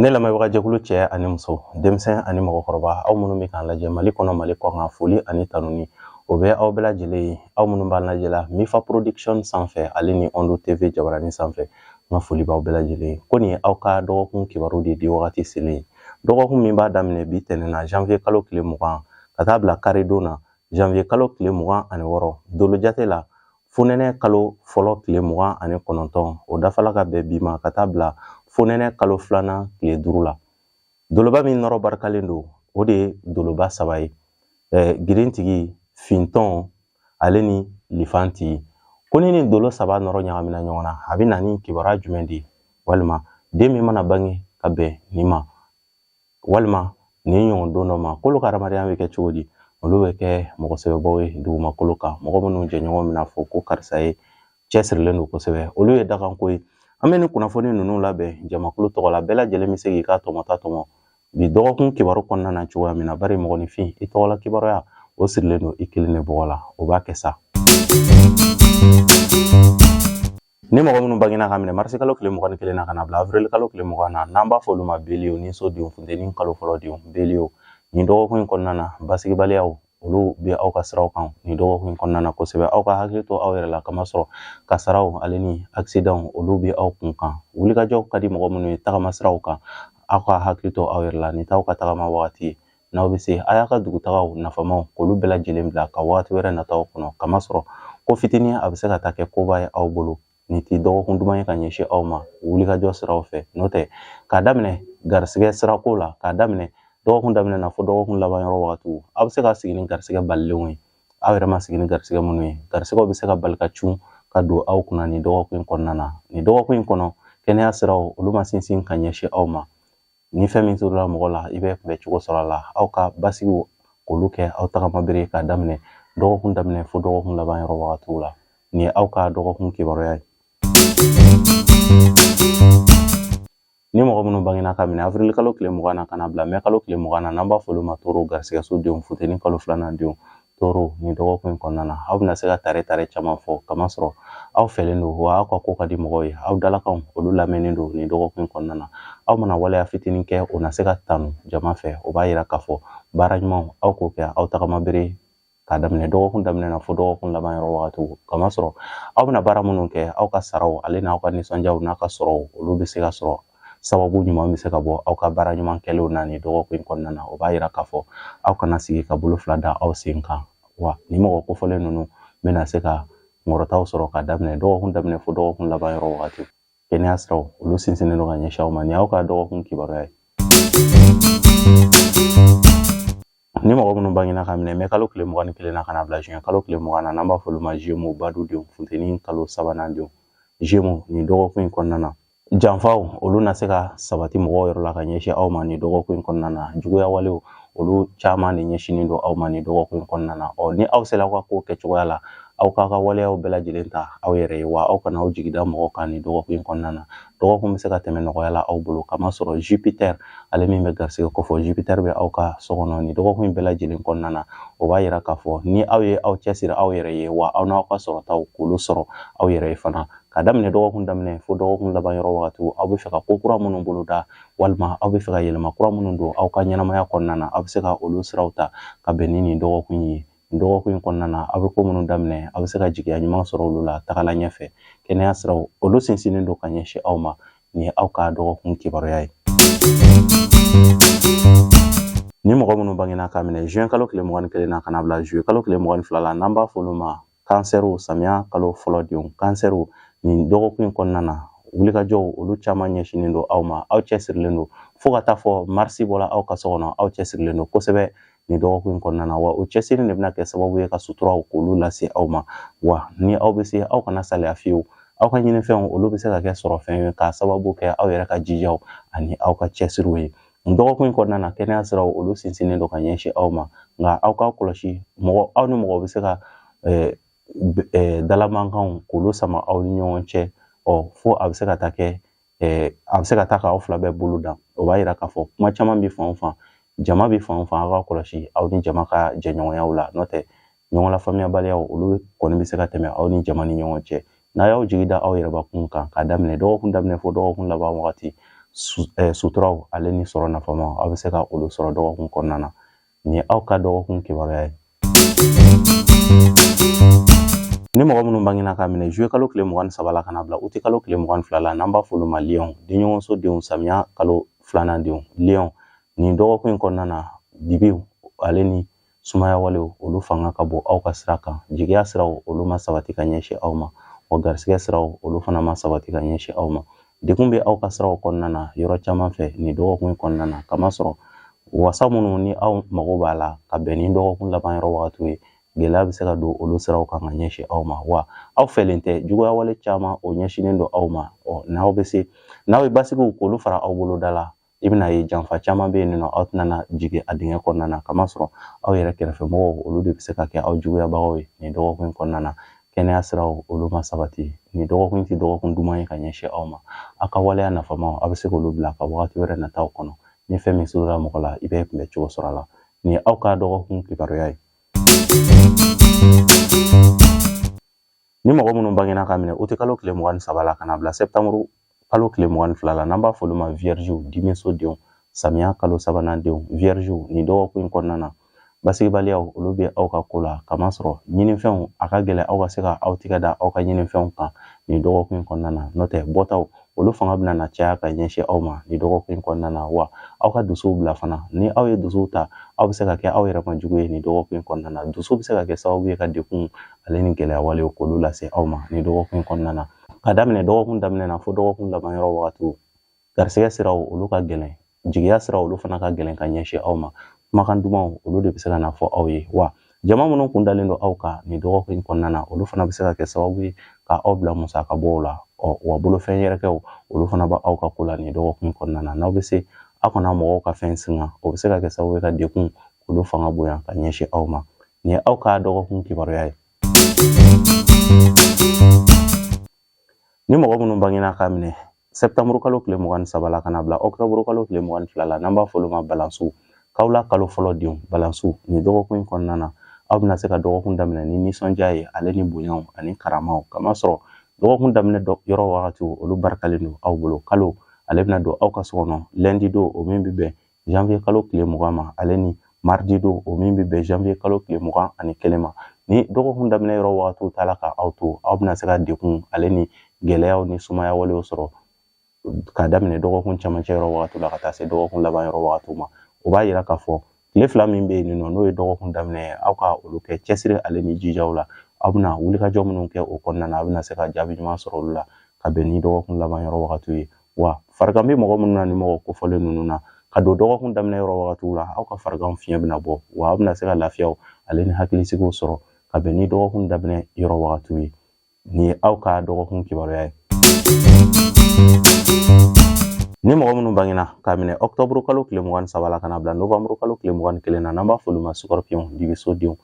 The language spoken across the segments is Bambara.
ne lamɛnbagajɛkulu cɛ ani muso denmisɛn ani mɔgɔkɔrɔba aw minnu bɛ k'an lajɛ mali kɔnɔ mali kɔkan foli ani tanuni o bɛ aw bɛɛ lajɛlen ye aw minnu b'an lajɛ la mifa production sanfɛ ale ni ondo tv jabarani sanfɛ n ka foli b'aw bɛɛ lajɛlen ye ko nin ye aw ka dɔgɔkun kibaru de di wagati selen ye dɔgɔkun min b'a daminɛ bi tɛnɛn na janvier kalo tile mugan ka taa bila karidon na janvier kalo tile mugan ani wɔɔrɔ dolojate la fonɛnɛ kalo fɔlɔ tile mugan ani kɔnɔntɔn o dafala ka bɛn bi ma ka taa bila fonɛnɛ kalo filanan tile duuru la doloba min nɔrɔ barikalen don o de ye doloba saba ye girintigi fintɔn ale ni lifantigi ko ni nin dolo saba nɔrɔ ɲagamina ɲɔgɔn na a bɛ na ni kibaruya jumɛn de ye walima den min mana bange ka bɛn nin ma walima nin ɲɔgɔn don dɔ ma k'olu ka hadamadenya bɛ kɛ cogo di olu bɛ kɛ mɔgɔ sɛbɛbaw ye dugumakolo kan mɔgɔ minnu jɛɲɔgɔn bɛna fɔ ko karisa ye cɛsirilen don kosɛbɛ olu ye dakanko ye an bɛ nin kunnafoni ninnu labɛn jamakulu tɔgɔ la bɛɛ lajɛlen bɛ se k'i ka tɔmɔta tɔmɔ bi dɔgɔkun kibaru kɔnɔna na cogoya min na bari mɔgɔninfin i tɔgɔla kibaruya o sirilen don i kelen de bɔgɔ la o b'a kɛ sa Ni mɔgɔ minnu bangena ka minɛ marisi kalo tile mugan ni kelen na ka na bila avril kalo tile mugan na n'an b'a fɔ olu ma beliyew niso denw funteni kalo fɔlɔ denw beliyew nin dɔgɔkun in kɔnɔna na basigibaliyaw olu bɛ aw ka siraw kan nin dɔgɔkun in kɔnɔna na kosɛbɛ aw ka hakili to aw yɛrɛ la kamasɔrɔ kasaraw ale ni akisidanw olu bɛ aw kun kan wulikajɔw ka di mɔgɔ minnu ye tagama siraw kan aw ka hakili to aw yɛrɛ la nin t'aw ka tagama wagati ye n'aw bɛ se a y'a ka dugutagaw nafamaw k'olu bɛɛ lajɛlen bila ka wagati wɛrɛ nataw kɔnɔ kamasɔrɔ ko fitinin a bɛ se ka taa kɛ koba ye aw bolo nin tɛ dɔgɔkun duman ye ka ɲɛsin aw ma wulikajɔ siraw fɛ n'o tɛ k'a daminɛ garisigɛ sirako la k'a daminɛ dɔgɔkun daminɛ na fo dɔgɔkun laban yɔrɔ wagatiw aw bɛ se ka sigi ni garisigɛ balilenw ye aw yɛrɛ ma sigi ni garisigɛ minnu ye garisigɛw bɛ se ka bali ka cun ka don aw kunna nin dɔgɔkun in kɔnɔna na nin dɔgɔkun in kɔnɔ kɛnɛya siraw olu ma sinsin ka ɲɛsin aw ma Ni fɛn min turula mɔgɔ la i bɛ kunbɛ cogo sɔrɔ a la aw ka basigiw k'olu kɛ aw tagama bere k'a daminɛ dɔgɔkun daminɛ fo dɔgɔkun laban yɔrɔ wagatiw la nin ye aw ka dɔgɔkun kibaruya ye ni mɔgɔ minnu bangena ka minɛ avril kalo tile mugan na ka na bila mɛ kalo tile mugan na n'an b'a fɔ olu ma toro garisigɛso denw funteni kalo filanan denw toro nin dɔgɔkun in kɔnɔna na aw bɛna se ka tare tare caman fɔ kamasɔrɔ aw fɛlen don wa aw ka ko ka di mɔgɔw ye aw dalakanw olu lamɛnnen don nin dɔgɔkun kɔnɔna na aw mana waleya fitinin kɛ o na se ka tanu jama fɛ o b'a yira k'a fɔ baara ɲumanw aw k'o kɛ aw tagama bere k'a daminɛ dɔgɔkun daminɛ na fo dɔgɔkun laban yɔrɔ wagati kamasɔrɔ aw bɛna baara minnu kɛ aw ka saraw ale n'aw ka nisɔndiyaw n'a ka sɔrɔw olu bɛ se ka sɔrɔ sababu ɲuman bɛ se ka bɔ aw ka baara ɲuman kɛlenw na nin dɔgɔkun in kɔnɔna na o b'a yira k'a fɔ aw kana sigi ka bolo fila da aw sen kan wa nin mɔgɔ kofɔlen ninnu bɛna se ka sɔrɔtaw sɔrɔ ka daminɛ dɔgɔkun daminɛ fo dɔgɔkun laban yɔrɔ wagati kɛnɛya siraw olu sinsinnen don ka ɲɛsin aw ma nin y'aw ka dɔgɔkun kibaruya ye ni mɔgɔ minnu bangena ka minɛ mɛ kalo tile mugan ni kelen na ka na bila juin kalo tile mugan na n'an b'a fɔ olu ma jemu badudenw funteni kalo sabanan denw jemu nin dɔgɔkun in kɔnɔna na janfaw olu na se ka sabati mɔgɔw yɔrɔ la ka ɲɛsin aw ma nin dɔgɔkun in kɔnɔna na juguya walew olu caman de ɲɛsinnen don aw ma nin dɔgɔkun in kɔnɔna na ɔ ni aw sera aw ka kow kɛcogoya la aw k'a ka waleyaw bɛɛ lajɛlen ta aw yɛrɛ ye wa aw kana aw jigida mɔgɔw kan nin dɔgɔkun in kɔnɔna na dɔgɔkun bɛ se ka tɛmɛ nɔgɔya la aw bolo k'a masɔrɔ jupiter ale min bɛ garisɛgɛ kofɔ jupiter bɛ aw ka so kɔnɔ nin dɔgɔkun in bɛɛ lajɛlen kɔnɔna na o b'a yira k'a fɔ ni aw ye aw cɛsiri aw yɛrɛ ye wa aw n'aw ka sɔrɔtaw k'olu sɔrɔ aw yɛrɛ ye fana ka daminɛ dɔgɔkun daminɛ fo dɔgɔkun laban yɔrɔ wagati aw bɛ fɛ ka ko kura minnu boloda walima aw bɛ fɛ ka yɛlɛma kura minnu don aw ka ɲɛnamaya kɔnɔna na aw bɛ se ka olu siraw ta ka bɛn ni nin dɔgɔkun ye nin dɔgɔkun in kɔnɔna na aw bɛ ko minnu daminɛ aw bɛ se ka jigiya ɲuman sɔrɔ olu la tagala ɲɛfɛ kɛnɛya siraw olu sinsinnen don ka ɲɛsin aw ma nin ye aw ka dɔgɔkun kibaruya ye ni mɔgɔ minnu bangena ka minɛ juin kalo tile mugan ni kelen na ka na bila juillet kalo tile mugan ni fila la n'an b'a fɔ olu ma kansɛriw samiya kalo fɔlɔ denw kansɛriw nin dɔgɔkun in kɔnɔna na wulikajɔw olu caman ɲɛsinnen don aw ma aw cɛsirilen don fo ka taa fɔ marisi bɔla aw ka so kɔnɔ aw cɛsirilen don kosɛbɛ nin dɔgɔkun in kɔnɔna na wa o cɛsiri de bɛna kɛ sababu ye ka suturaw k'olu lase aw ma wa ni aw bɛ se aw kana saliya fiyewu aw ka ɲinifɛnw olu bɛ se ka kɛ sɔrɔfɛn ye k'a sababu kɛ aw yɛrɛ ka jijaw ani aw ka cɛsiriw ye dɔgɔkun in kɔnɔna na kɛnɛya siraw olu sinsinnen don ka ɲɛsin aw ma nka aw k'a kɔlɔsi mɔgɔ aw ni mɔgɔ bɛ se ka dalamankanw k'olu sama aw ni ɲɔgɔn cɛ ɔ fo a bɛ se ka taa kɛ a bɛ se ka taa k'aw fila bɛɛ bolo dan o b'a yira k'a fɔ kuma caman bɛ fan o fan jama bɛ fan o fan aw k'a kɔlɔsi aw ni jama ka jɛɲɔgɔnyaw la n'o tɛ ɲɔgɔn lafaamuyabaliyaw olu kɔni bɛ se ka tɛmɛ aw ni jama ni ɲɔgɔn cɛ n'a y'aw jigi da aw yɛrɛbakun kan k'a daminɛ dɔgɔkun daminɛ fo dɔgɔkun laban wagati eh, suturaw ale ni sɔrɔ nafama aw bɛ se ka olu sɔrɔ dɔgɔkun kɔnɔna na nin ye aw ka dɔgɔkun kibaruya ye ni mɔgɔ minnu bangena ka minɛ juillet kalo tile mugan ni saba la ka na bila uti kalo tile mugan ni fila la n'an b'a f'olu ma liyɔn denɲɔgɔnso denw samiya kalo filanan denw liyɔn nin dɔgɔkun in kɔnɔna na dibiw ale ni sumaya walew olu fanga ka bon aw ka sira kan jigiya siraw olu ma sabati ka ɲɛsin aw ma wa garisigɛ siraw olu fana ma sabati ka ɲɛsin aw ma degun bɛ aw ka siraw kɔnɔna na yɔrɔ caman fɛ nin dɔgɔkun in kɔnɔna na kamasɔrɔ wasa minnu ni aw mago b'a la ka bɛn ni dɔgɔkun laban yɔrɔ wagatiw ye gɛlɛya bɛ se ka don olu siraw kan ka ɲɛsin aw ma wa aw fɛlen tɛ juguya wale caman o ɲɛsinnen don aw ma ɔ n'aw bɛ se n'aw ye basigiw k'olu fara aw boloda la i bɛna ye janfa caman bɛ yen nɔ aw tɛna na jigin a dingɛ kɔnɔna na kamasɔrɔ aw yɛrɛ kɛrɛfɛ mɔgɔw olu de bɛ se ka kɛ aw juguyabagaw ye nin dɔgɔkun in kɔnɔna na kɛnɛya siraw olu ma sabati nin dɔgɔkun tɛ dɔgɔkun duman ye ka ɲɛsin aw ma aw ka waleya nafamaw aw bɛ se k'olu bila ka wagati wɛrɛ nataw kɔnɔ ni fɛn min surunna mɔgɔ la i bɛ kunbɛn cogo sɔrɔ a la nin ye aw ka dɔgɔkun kibaruya ye ni mɔgɔ minnu bangena ka minɛ uti kalo tile mugan ni saba la ka na bila sɛtanburu kalo tile mugan ni fila la n'an b'a f'olu ma viyɛriziw dimiso denw samiya kalo sabanan denw viyɛriziw nin dɔgɔkun in kɔnɔna na basigibaliyaw olu bɛ aw ka ko la kamasɔrɔ ɲininfɛnw a ka gɛlɛn aw ka se ka aw tigɛ da aw ka ɲininfɛnw kan nin dɔgɔkun in kɔnɔna na n'o tɛ bɔtaw olu fanga bɛna na caya ka ɲɛsin aw ma nin dɔgɔkun in kɔnɔna na wa aw ka dusuw bila fana ni aw ye dusuw ta aw bɛ se ka kɛ aw yɛrɛ ma jugu ye nin dɔgɔkun in kɔnɔna na dusu bɛ se ka kɛ sababu ye ka degun ale ni gɛlɛya walew k'olu lase aw ma nin dɔgɔkun in kɔnɔna na ka daminɛ dɔgɔkun daminɛ na fo dɔgɔkun laban yɔrɔ wagatiw garisigɛ siraw olu ka gɛlɛn jigiya siraw olu fana ka gɛlɛn ka ɲɛsin aw ma kumakan dumanw olu de bɛ se ka na fɔ aw ye wa jama minnu kun dalen don aw kan nin dɔgɔkun in kɔnɔna na olu fana bɛ se ka kɛ sababu ye ka aw bila musaka bɔw la ɔ wa bolofɛn yɛrɛkɛw olu fana bɛ aw ka ko la nin dɔgɔkun in kɔnɔna na n'aw bɛ se aw kana mɔgɔw ka fɛn singa o bɛ se ka kɛ sababu ye ka degun olu fanga bonya ka ɲɛsin aw ma nin ye aw ka dɔgɔkun kibaruya ye Ni mɔgɔ minnu bangena ka minɛ sɛtanburu kalo tile mugan ni saba la ka na bila ɔkutɔburu kalo tile mugan ni fila la n'an b'a fɔ olu ma balansiw kawula kalo fɔlɔ denw balansiw nin dɔgɔkun in kɔnɔna na aw bɛna se ka dɔgɔkun daminɛ ni nisɔndiya ye ale ni bonyaw ani karamaw kamasɔrɔ dɔgɔkun daminɛ yɔrɔ wagatiw olu barikalen don aw bolo kalo ale bɛna don aw ka so kɔnɔ lundi don o min bɛ bɛn janvier kalo tile mugan ma ale ni mardi don o min bɛ bɛn janvier kalo tile mugan ani kelen ma ni dɔgɔkun daminɛ yɔrɔ wagatiw taara ka aw to aw bɛna se ka degun ale ni gɛlɛyaw ni sumaya walew sɔrɔ ka daminɛ dɔgɔkun camancɛ yɔrɔ wagatiw la ka taa se dɔgɔkun laban yɔrɔ wagatiw ma o b'a yira k'a fɔ tile fila min bɛ yen nɔ n'o ye dɔgɔkun daminɛ ye aw ka olu kɛ cɛsiri ale ni jijaw la aw bɛna wulikajɔ minnu kɛ o kɔnɔna na aw bɛna se ka jaabi ɲuman sɔrɔ olu la ka bɛn ni dɔgɔkun laban yɔrɔ wagatiw ye wa farigan bɛ mɔgɔ minnu na ni mɔgɔ kofɔlen ninnu na ka don dɔgɔkun daminɛ yɔrɔ wagatiw la aw ka farigan fiɲɛ bɛna bɔ wa aw bɛna se ka lafiyaw ale ni hakilisigiw sɔrɔ ka bɛn ni dɔgɔkun daminɛ yɔrɔ wagatiw ye nin ye aw ka dɔgɔkun kibaruya ye ni mɔgɔ minnu bangena k'a minɛ ɔktɔburu kalo tile mugan ni saba la ka na bila novanburu kalo tile mugan ni kelen na n'an b'a f'olu ma sukɔrɔpiyɔn dibisodenw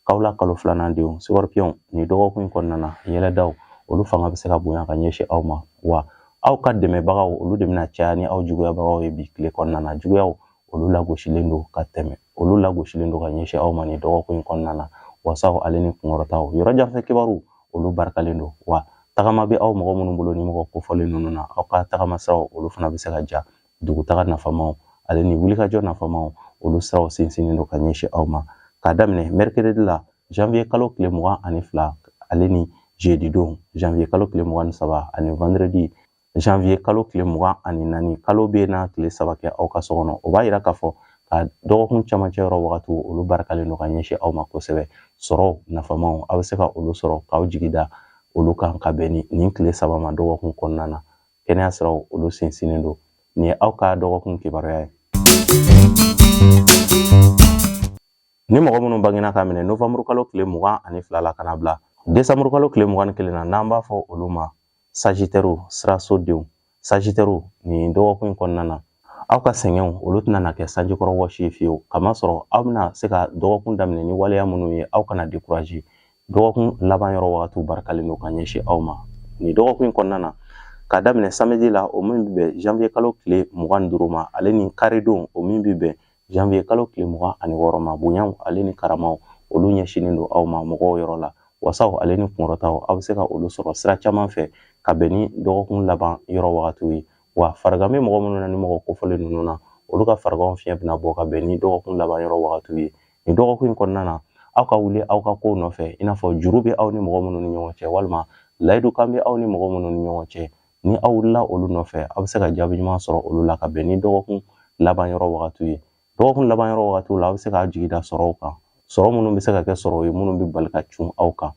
kawla kalo filanan denw sukɔrɔpiyɔn nin dɔgɔkun in kɔnɔna na yɛlɛdaw olu fanga bɛ se ka bonya ka ɲɛsin aw ma wa aw ka dɛmɛbagaw olu de bɛna caya ni aw juguyabagaw ye bi tile kɔnɔna na juguyaw olu lagosilen don ka tɛmɛ olu lagosilen don ka ɲɛsin aw ma nin dɔgɔkun in kɔnɔna na wasaw ale ni kunkɔrɔtaw yɔrɔ janfɛ kibaruw olu barikalen don wa tagama bɛ aw mɔgɔ minnu bolo ni mɔgɔ kofɔlen ninnu na aw ka tagama siraw olu fana bɛ se ka ja dugutaga nafamaw ale ni wulikajɔ nafamaw olu siraw sinsinnen don ka ɲɛsin aw ma k'a daminɛ mercredi la janvier kalo tile mugan ani fila ale ni jeudi don janvier kalo tile mugan ni saba ani vendredi janvier kalo tile mugan ani naani kalo bɛna tile saba kɛ aw ka so kɔnɔ o b'a yira k'a fɔ ka dɔgɔkun camancɛ yɔrɔ wagatiw olu barikalen don ka ɲɛsin aw ma kosɛbɛ sɔrɔ nafamaw aw bɛ se ka olu sɔrɔ k'aw jigi da olu kan ka bɛn nin tile saba ma dɔgɔkun kɔnɔna na kɛnɛya siraw olu sinsinnen don nin ye aw ka dɔgɔkun kibaruya ye ni mɔgɔ minnu bangena k'a minɛ novanburu kalo tile mugan ani fila la ka na bila desanburu kalo tile mugan ni kelen na n'an b'a fɔ olu ma sajitɛriw sirasodenw sajitɛriw nin dɔgɔkun in kɔnɔna na aw ka sɛgɛnw olu tɛna na kɛ sanjikɔrɔwɔsi ye fiyewu kamasɔrɔ aw bɛna se ka dɔgɔkun daminɛ ni waleya minnu ye aw kana dekuraze dɔgɔkun laban yɔrɔ wagatiw barikalen don ka ɲɛsin aw ma nin dɔgɔkun in kɔnɔna na k'a daminɛ samedi la o min bɛ bɛn janvier kalo tile mugan ni duuru ma ale ni karidon o min bɛ bɛn janvier kalo tile mugan ani wɔɔrɔ ma bonyaw ale ni karamaw olu ɲɛsinnen don aw ma mɔgɔw yɔrɔ la wasaw ale ni kunkɔrɔtaw aw bɛ se ka olu sɔrɔ sira caman fɛ ka bɛn ni dɔgɔkun laban yɔrɔ wagatiw ye wa farigan bɛ mɔgɔ minnu na ni mɔgɔ kofɔlen ninnu na olu ka fariganw fiɲɛ bɛna bɔ ka bɛn ni dɔgɔkun laban yɔrɔ wagatiw ye nin dɔgɔkun in kɔnɔna na aw ka wuli aw ka kow nɔfɛ i n'a fɔ juru bɛ aw ni mɔgɔ minnu ni ɲɔgɔn cɛ walima layidukan bɛ aw ni mɔgɔ minnu ni ɲɔgɔn cɛ ni aw wulila olu nɔfɛ aw bɛ se ka jaabi ɲuman sɔrɔ olu la ka bɛn ni dɔgɔkun laban yɔrɔ wagatiw ye dɔgɔkun laban yɔrɔ wagatiw la aw bɛ se k'aw jigi da sɔrɔw kan sɔrɔ minnu bɛ se ka kɛ sɔrɔ ye minnu bɛ bali ka cun aw kan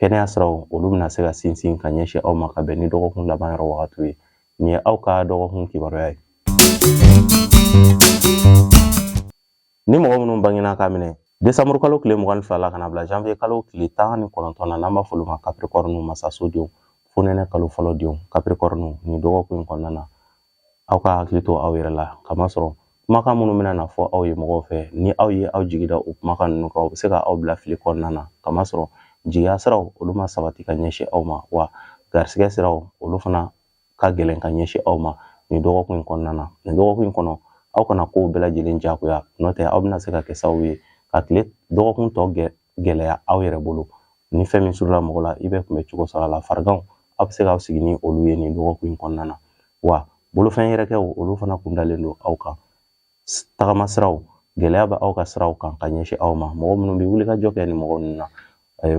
kɛnɛya siraw olu bɛna se ka sinsin ka ɲɛsin aw ma ka bɛn ni dɔgɔkun laban yɔrɔ wagatiw ye nin ye aw ka dɔgɔkun kibaruya ye ni mɔgɔ minnu bangena k'a minɛ desanburu kalo tile mugan ni fila la ka na bila janvier kalo tile tan ni kɔnɔntɔn na n'an b'a fɔ olu ma kapirikɔriniw masasodenw fonɛnɛ kalo fɔlɔ denw kapirikɔriniw nin dɔgɔkun in kɔnɔna na aw ka hakili to aw yɛrɛ la kamasɔrɔ kumakan minnu bɛna na fɔ aw ye mɔgɔw fɛ ni aw ye aw jigida o kumakan ninnu kan o bɛ se ka aw bila fili kɔnɔna na kamasɔrɔ jigiya siraw olu ma sabati ka ɲɛsin aw ma wa garisigɛ siraw olu fana ka gɛlɛn ka ɲɛsin aw ma nin dɔgɔkun in kɔnɔna na nin dɔgɔkun in kɔnɔ aw kana kow bɛɛ lajɛlen jagoya n'o tɛ aw bɛna se ka kɛ sababu ye ka tile dɔgɔkun tɔ gɛlɛ gɛlɛya aw yɛrɛ bolo ni fɛn min surula mɔgɔ la i bɛ kunbɛ cogo sɔrɔ a la fariganw aw bɛ se k'aw sigi ni olu ye nin dɔgɔkun in kɔnɔna na wa bolofɛn yɛrɛkɛw olu fana kun dalen don aw kan tagama siraw gɛlɛya bɛ aw ka siraw kan ka ɲɛsin aw ma mɔgɔ minnu bɛ wulikajɔ kɛ ni mɔgɔ ninnu na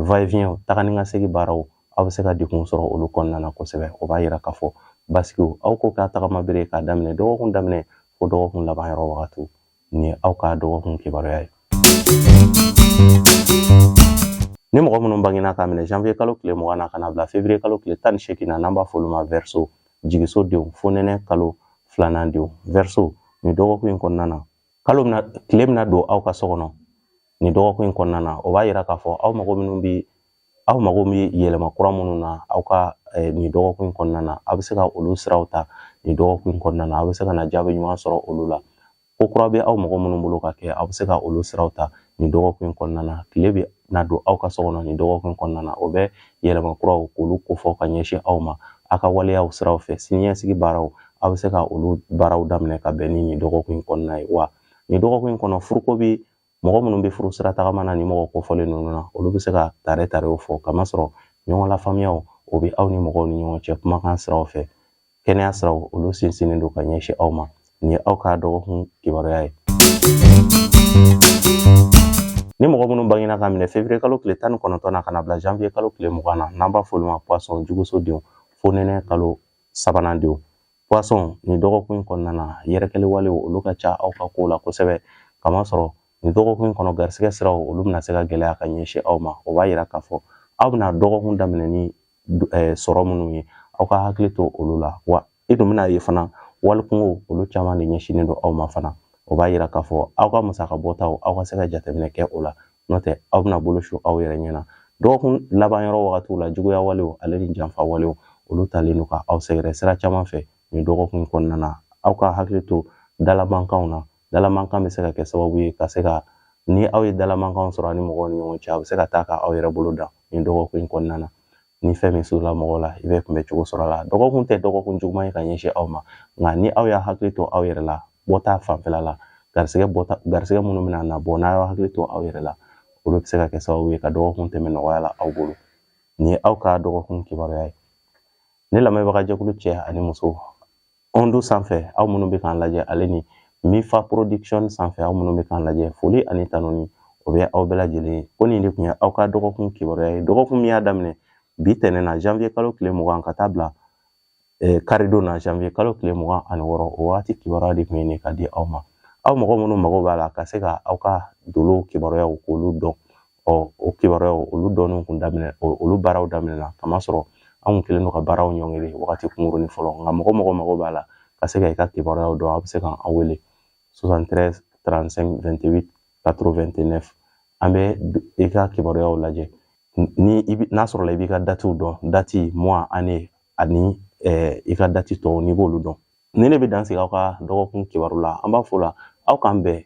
va-et-vient taga ni ka segin baaraw aw bɛ se ka degun sɔrɔ olu kɔnɔna na kosɛbɛ o b'a yira k'a fɔ basigiw aw k'o k'a tagama bere k'a daminɛ dɔgɔkun daminɛ fo dɔgɔkun laban yɔrɔ wagatiw Nin ye aw ka dɔgɔkun kibaruya ye. Ni mɔgɔ minnu bangena ka minɛ janvier kalo tile mugan na ka na bila février kalo tile tan ni seegin na n'an b'a fɔ olu ma verseau jigiso denw fonɛnɛ kalo filanan denw verseau nin dɔgɔkun in kɔnɔna na kalo bɛna tile bɛna don aw ka so kɔnɔ nin dɔgɔkun in kɔnɔna na o b'a yira k'a fɔ aw mago minnu bi aw mago bɛ yɛlɛma kura minnu na aw ka nin dɔgɔkun in kɔnɔna na aw bɛ se ka olu siraw ta nin dɔgɔkun in kɔnɔna na aw bɛ se ka na jaabi ɲuman sɔrɔ olu la ko kura bɛ aw mɔgɔ minnu bolo ka kɛ aw bɛ se ka olu siraw ta nin dɔgɔkun in kɔnɔna na tile bɛna don aw ka so kɔnɔ nin dɔgɔkun in kɔnɔna na o bɛ yɛlɛma kuraw k'olu kofɔ ka ɲɛsin aw ma aw ka waleyaw siraw fɛ siniɲɛsigi baaraw aw bɛ se ka olu baaraw daminɛ ka bɛn ni nin dɔgɔkun in kɔnɔna ye wa nin dɔgɔkun in kɔnɔ furuko bɛ mɔgɔ minnu bɛ furu sira tagama na ni mɔgɔ kofɔlen ninnu na olu bɛ se ka tare tarew fɔ kamasɔrɔ ɲɔgɔn lafaamuyaw o bɛ aw ni mɔgɔw ni ɲɔgɔn cɛ kumakan siraw fɛ kɛnɛya siraw olu sinsinnen don ka ɲɛsin aw ma nin ye aw ka dɔgɔkun kibaruya ye ni mɔgɔ minnu bangena ka minɛ février kalo tile tan ni kɔnɔntɔn na ka na bila janvier kalo tile mugan na n'an b'a fɔ olu ma poisson juguso denw fonɛnɛ kalo sabanan denw poisson nin dɔgɔkun in kɔnɔna na yɛrɛkɛli walew olu ka ca aw ka kow la kosɛbɛ kamasɔrɔ nin dɔgɔkun in kɔnɔ garisigɛ siraw olu bɛna se ka gɛlɛya ka ɲɛsin aw ma o b'a yira k'a fɔ aw bɛna dɔgɔkun daminɛ ni eh, sɔrɔ minnu ye aw ka hakili to olu la wa i dun bɛna ye fana walikunkow olu caman de ɲɛsinnen don aw ma fana o b'a yira k'a fɔ aw ka musaka bɔtaw aw ka se ka jateminɛ kɛ o la n'o tɛ aw bɛna bolo su aw yɛrɛ ɲɛ na dɔgɔkun laban yɔrɔ wagatiw la juguya walew ale ni janfa walew olu talen don ka aw sɛgɛrɛ sira caman fɛ nin dɔgɔkun in kɔnɔna na aw ka hakili to dalamankanw na dalamankan bɛ se ka kɛ sababu ye ka se ka ni aw ye dalamankanw sɔrɔ aw ni mɔgɔw ni ɲɔgɔn cɛ a bɛ se ka taa ka aw yɛrɛ bolo dan nin dɔgɔkun in kɔnɔna na ni fɛn min surula mɔgɔw la i bɛ kunbɛ cogo sɔrɔ a la dɔgɔkun tɛ dɔgɔkun juguman ye ka ɲɛsin aw ma nka ni aw y'a hakili to aw yɛrɛ la bɔta fanfɛla la garisigɛ bɔta garisigɛ minnu bɛna na bɔ n'a y'a hakili to aw yɛrɛ la olu bɛ se ka kɛ sababu ye ka dɔgɔkun tɛmɛ nɔgɔya la aw bolo nin ye aw ka dɔgɔkun kibaruya ye ne lamɛnbaga jɛkulu cɛ ani muso Ondo sanfɛ aw minnu bɛ k'an lajɛ ale ni Mifa Production sanfɛ aw minnu bɛ k'an lajɛ foli ani tanuni o bɛ aw bɛɛ lajɛlen ye ko nin de tun ye aw ka dɔgɔkun kibaruya ye dɔgɔkun min y'a daminɛ bi tɛnɛn na janvier kalo tile mugan ka taa bila eh, karidon na janvier kalo tile mugan ani wɔɔrɔ o waati kibaruya de tun ye nin ka di aw ma aw mɔgɔ minnu mago b'a la ka se ka aw ka dolow kibaruyaw k'olu dɔn ɔ o kibaruyaw olu dɔnniw kun daminɛ olu baaraw daminɛna k'a masɔrɔ an kun kɛlen don ka baaraw ɲɔngiri wagati kunkurunin fɔlɔ nka mɔgɔ o mɔgɔ mago b'a la ka se ka i ka kibaruyaw dɔn a bɛ se k'an wele 73 35 28 89 an bɛ i ka kibaruyaw lajɛ ni i bi n'a sɔrɔla i b'i ka datiw dɔn dati mois année ani i ka dati tɔw n'i b'olu dɔn ni ne bɛ dan sigi aw ka dɔgɔkun kibaru la an b'a fɔ o la aw k'an bɛn